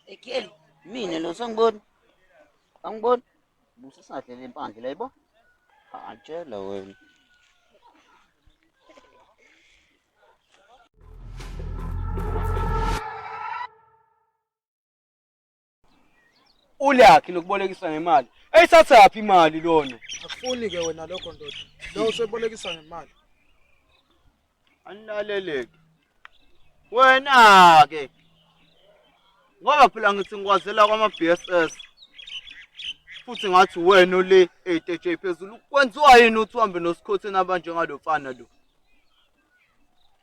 Ekiel, mina lo sangibona. Angibona. Musa sadlela impandla la yebo. Atshela wena. ulakhi lokubolekisa ngemali eyisathaphi imali lona akufuni ke wena lokho ndoda lo usebolekisa ngemali anilaleleke wena ke ngoba phela ngithi ngikwazela kwama-bss futhi ngathi wena ole eyiteje phezulu kwenziwa yini uthi uhambe nosikhotheni abanjengalo mfana lo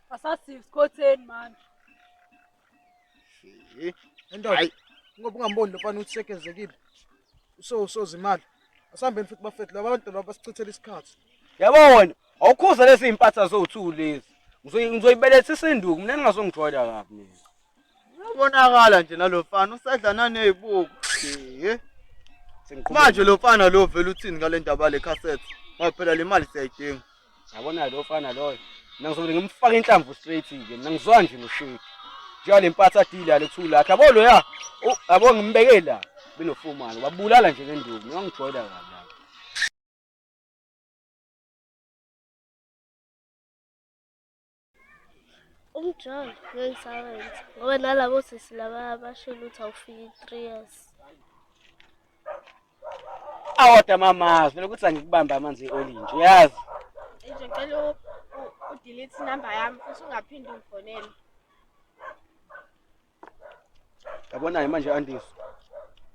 asasisikhotheni manje Endoda. Hayi. Ngoba ungamboni lo mfana ukuthi sekezekile. Uso usoza imali. Asihambeni futhi bafethu laba bantu laba basichithela isikhathi. Yabo wena, awukhuza lezi impatha zowuthu lezi. Ngizoyi- Ngizoyibeletha isinduku, mina ningazongijwayela kabi mina. Uyabonakala nje nalo mfana usadlana nezibuko. Eh. Sengiqhubeka. Manje lo mfana lo vele uthini ngale ndaba le cassette? Ngoba phela le mali siyayidinga. Yabona lo fana loyo. Mina ngizobele ngimfake inhlamvu straight nje. Mina ngizwa nje noshade. Njengoba le mpatha deal yale kuthiwa lakhe. Yabo loya. u- Yabo ngimbeke la. Benofumana. Wabulala nje le nduku. Mina ngijoyela kabi la. umjolo ngeke ngisawenza ngoba nalabo sisi laba bashilo ukuthi awufiki three years awoda mamazi phela ukuthi angikubambe amanzi eolinje uyazi nje cela udelete inamba yami futhi ungaphinde ungifonele Yabona-ke manje Andisi.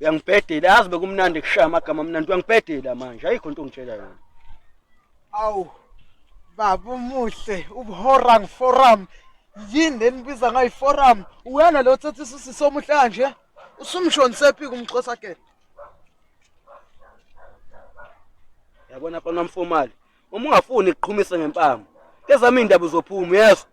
Uyangibhedela yazi bekumnandi kushaya amagama amnandi uyangibhedela manje ayikho into ongitshela yona. Awu baba umuhle ubuhorang forum yini lenibiza ngayi forum uyena lo thethe isisi somuhle kanje usumshoni sephi kumxhosa ke. Yabona fana mfomali Uma ungafuni ukuqhumisa ngempama, ezami indaba uzophuma uyezwa.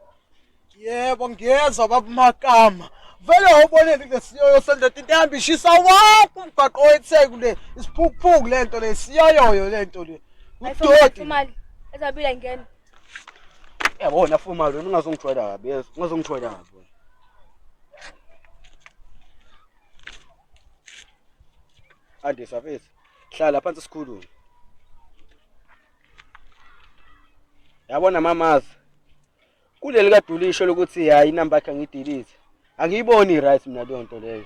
Yebo ngiyezwa babumakama. Vele wawuboneni kulesiyoyo sendoda into ehamba ishisa wonke umgwaqo wetheku le isiphukuphuku le nto le siyoyoyo le nto le udoti imali ezabila ingena yabona fuma lo ungazongithwala kabi yes ungazongithwala kabi andisa fethu hlala phansi sikhulume yabona mamazi kuleli kadulisho lokuthi hayi inamba yakhe ngidilize angiyiboni right mina leyo nto leyo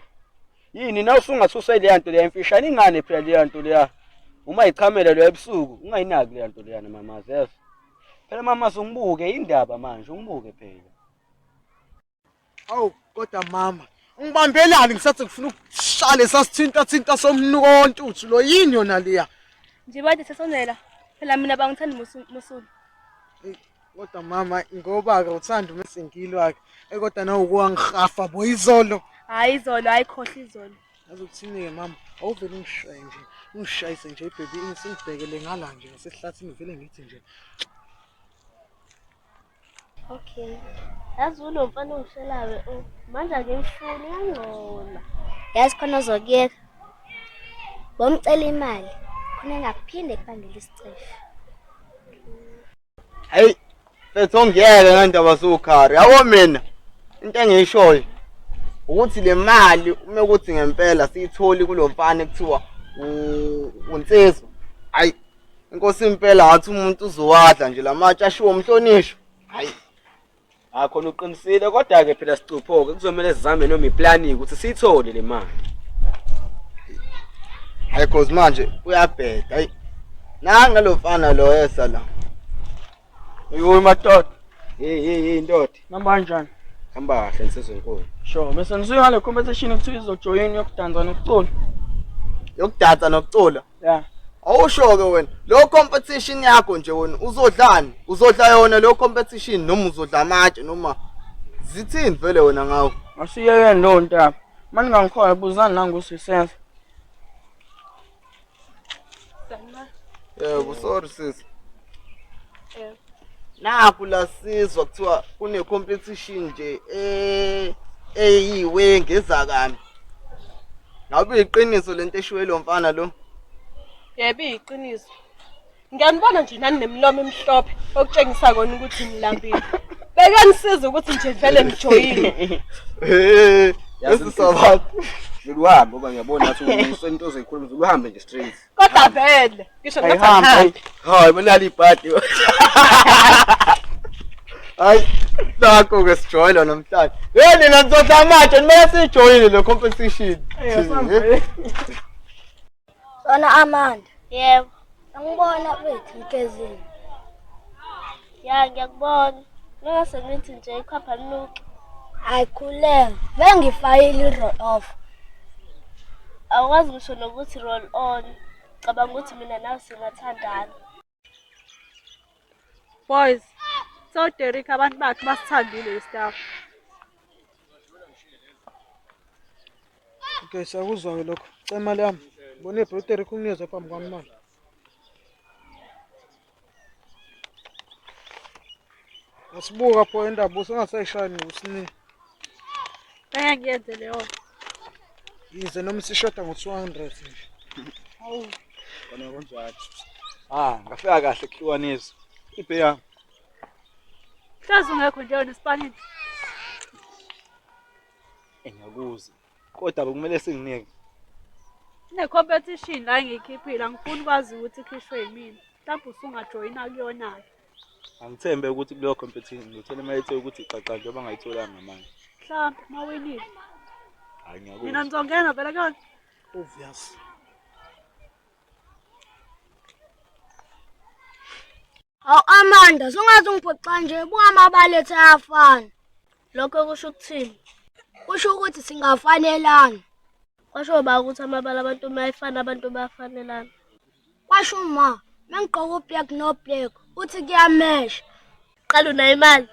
yini na usungasusa leya nto leya imfishane ingane phela leya nto leya uma ichamela lo ebusuku ungayinaki leya nto leya mamazi yes phela mamazi ungibuke indaba manje ungibuke phela Awu kodwa mama ngibambelani ngisathi ngifuna ukushale sasithinta thinta somnuko wontuthu lo yini yona leya. Nje bade sesonela. Phela mina bangithanda musulu. Kodwa mama ngoba ke uthanda uma sengilo ake. Eh kodwa nawe ukuwangihafa bo izolo. Hayi izolo hayi khohle izolo. Yazi ukuthini ke mama awuvele ungishaye nje. Ungishayise nje baby ngisibhekele ngala nje ngasehlathini vele ngithi nje Okay. Yazi ulo mfana ongishelayo o oh, manje akimfuni yangcola. Yazi khona ozokuyeka. Bomcela imali khona engaphinde kubangela isicefe. Hey, fethu ngiyeke ngendaba sokhari. Yabo mina into engiyishoyo ukuthi le mali uma ukuthi ngempela siyitholi kulo mfana ekuthiwa unsizwa. Hayi inkosi impela ngathi umuntu uzowadla nje lamatshe ashiwo umhlonishwa hayi akho uqinisile kodwa ke phela sicuphoke kuzomela sizame noma iplani ukuthi siyithole le mali hayi cause manje uyabheda hayi nanga lo mfana lo yesa la Yooh madoda. Hey hey hey ndoda. Namba kanjani? Hamba kahle nsizwe enkulu. Sure, bese nisuke ngale competition ekuthiwa izojoyina yokudansa nokucula. Yokudansa nokucula? Yeah. Awusho ke wena, lo competition yakho nje wena uzodlani? Uzodla yona lo competition noma uzodla amatshe noma zithini vele wena ngawo? Masiyeke lo ntaba. Manje ngangikhoya buzani nangu sisenza. Yebo, sorry sisi. Eh. Naku la sizwa kuthiwa kune competition nje eh eyiwe ngezakami. Ngabe iqiniso lento eshiwe lo mfana lo? Yebo iqiniso. Ngiyanibona nje nani nemilomo emhlophe okutshengisa kona ukuthi nilambile. Bekanisiza ukuthi nje vele nijoyile. Eh, yazi sabantu. Ngikuhambe ngoba ngiyabona ukuthi umuntu into ozoyikhuluma uzohambe nje straight. Kodwa vele ngisho ngathi ahambe. Hayi, benali ibhadi. Hayi, nakho ke sijoyile namhlanje. Hey, nina nizodla manje, nimele sijoyile le competition. Eh, Wena Amanda. Yebo. Angibona kwethu ikezini. Ya ngiyakubona. Ningase nithi nje ikhapha linuke. Hayi khuleka. Bengifayile i-roll off. Awukwazi ngisho nokuthi roll on. Cabanga ukuthi mina nawe singathandana. Boys, so Derek abantu bakhe basithandile istaff. Okay, sakuzwa-ke lokho. Cela imali yami. Bona ibro Derek unginikeza phambi kwami manje. Asibuka pho indaba usengasayishayini ngosini. Ngeke ngiyenze leyo. Yize noma sishoda ngo-200 nje. Hawu. Kona kunjalo. Ah, ngafika kahle kuhlukanisa. Ibhe yami. Hlazi ungekho nje wena esipanini. Engakuzi. Kodwa bekumele singinike. Ne competition la ngiyikhiphile angifuni kwazi ukuthi ikhishwe yimina. Mhlawumbe usungajoyina kuyona ke. angithembe ukuthi kuleyo competition ngithole uma ethe ukuthi xaxa njengoba ngayitholanga manje mhlawumbe uma winile hayi ngiyakuthi nina nizongena vele kuyona obvious Aw Amanda, sungathi ungiphoxa nje buka amabalethe ayafana. Lokho kusho ukuthini? Kusho ukuthi singafanelana. Kwasho ba ukuthi amabala abantu uma efana abantu bayafanelana. Kwasho uma mengigqoka ublack no black uthi kuyamesha. Qala unayo imali.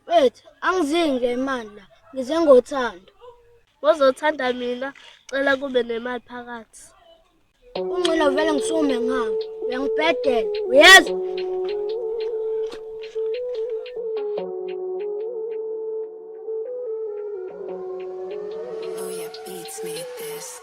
Wethu angizingi le imali la ngize ngothando. Ngozothanda mina cela kube nemali phakathi. Ungcono vele ngisume ngami. Uyangibhedela. Uyezwa? Oh yeah, beats made this.